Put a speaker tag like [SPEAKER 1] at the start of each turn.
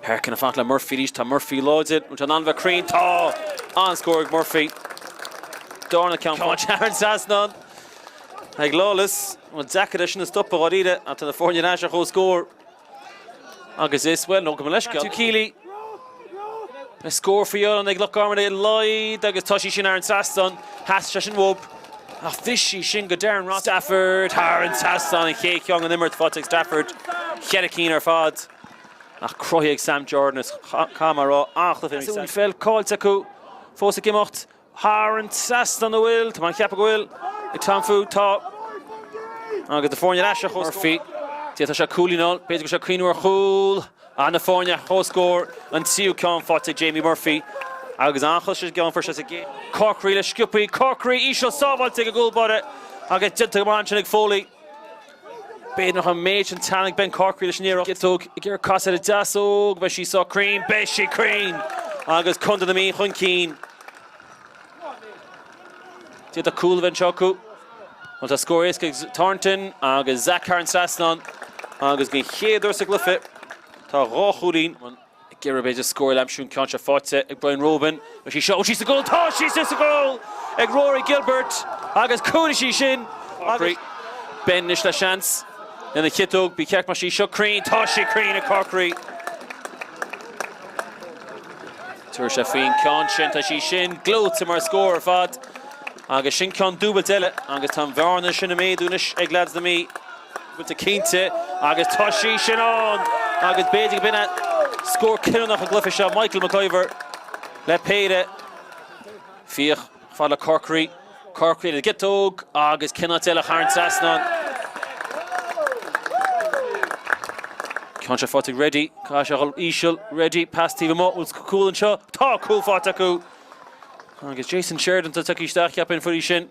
[SPEAKER 1] Harkin ar fad le Murphy arís. Tá Murphy láidir. An ceann an-bheag cruinn. Tá! An-scór ag Murphy. Darna ceann thar an trasnán ag Lawless. An-deacair í sin a stopadh dháiríre ach tá na foirne ar ais ar comhscór. Agus is bhuel nó go mba leisce tú Keely. Le scór faoi an ag Loch Garman é leid agus tá sí sin thar an trasnán. Chas sí sin whoop. Ach bhris sí sin go Darren Ross. Stafford thar an trasnán an chéad cheann ón imirt faighte ag Stafford. Cheithre cinn ar fad. ach cruthaíodh Sam Jordan is Conn mar rogha fheachtas féin ag Sam. Is í an pheil caillte acu fós ag imeacht thar an trasnán nó bhfuil? Tá mé ag ceapadh go bhfuil ag Tom Food, tá agus na foirne ar ais ar comhscór. Murphy, d'fhéadfadh sé cúilín a fháil, b'fhéidir go bhfuil sé ag cuimhneamh ar chúl ach na foirne ar comhscór an tríú ceann faighte ag Jamie Murphy agus an chois is geanfar sé sa gcéad. Corkery le Scioppi, Corkery íseal sábháilte ag an gcúl báire agus déanta go maith ansin ag Foley. B'fhéidir nach an méid sin teannadh ag Ben Corkery leis an iarracht. Ciotóg ag iarraidh casadh ar an deasóg. Beidh sí seo cruinn. Beidh sí cruinn! Agus Contae na Mí chun cinn. D'fhéadfadh cúl a bheith anseo acu. Bhuel tá scór éasca ag Thornton agus Zach thar an trasnán agus den chéad uair sa gcluiche tá dhá chúilín Géarghá b'fhéidir scór eile a aimsiú an ceann seo faighte ag Brian Roban. Beidh sí seo sa gcúl. Tá sí sa gcúl ag Rory Gilbert agus cuideoidh sí sin. Ben anois le seans lena chiotóg. Ba cheart go mbeadh sí seo cruinn. Tá sí cruinn ag Corkery. Tabharfaidh sé faoin gceann seo. Tá sí sin gleoite mar scór ar fad agus sin ceann dúbailt eile agus tá an bhearna sin ag méadú anois ag leaids na Mí. Bhfuiltear cinnte agus tá sí sin ann agus b'fhéidir go b'in é scór cinniúnach an chluiche seo. Michael McIvor le péire. Fiach ar fad le Corkery. Corkery le ciotóg agus cén áit eile ach thar an trasnán an ceann seo faighte ag Reddy. Caithfidh sé a dhul íseal. Reddy, pas taobh amuigh. Bhfuil cúl anseo? Tá cúl faighte acu agus Jason Sheridan tá tagtha isteach ceapaí an foirí sin.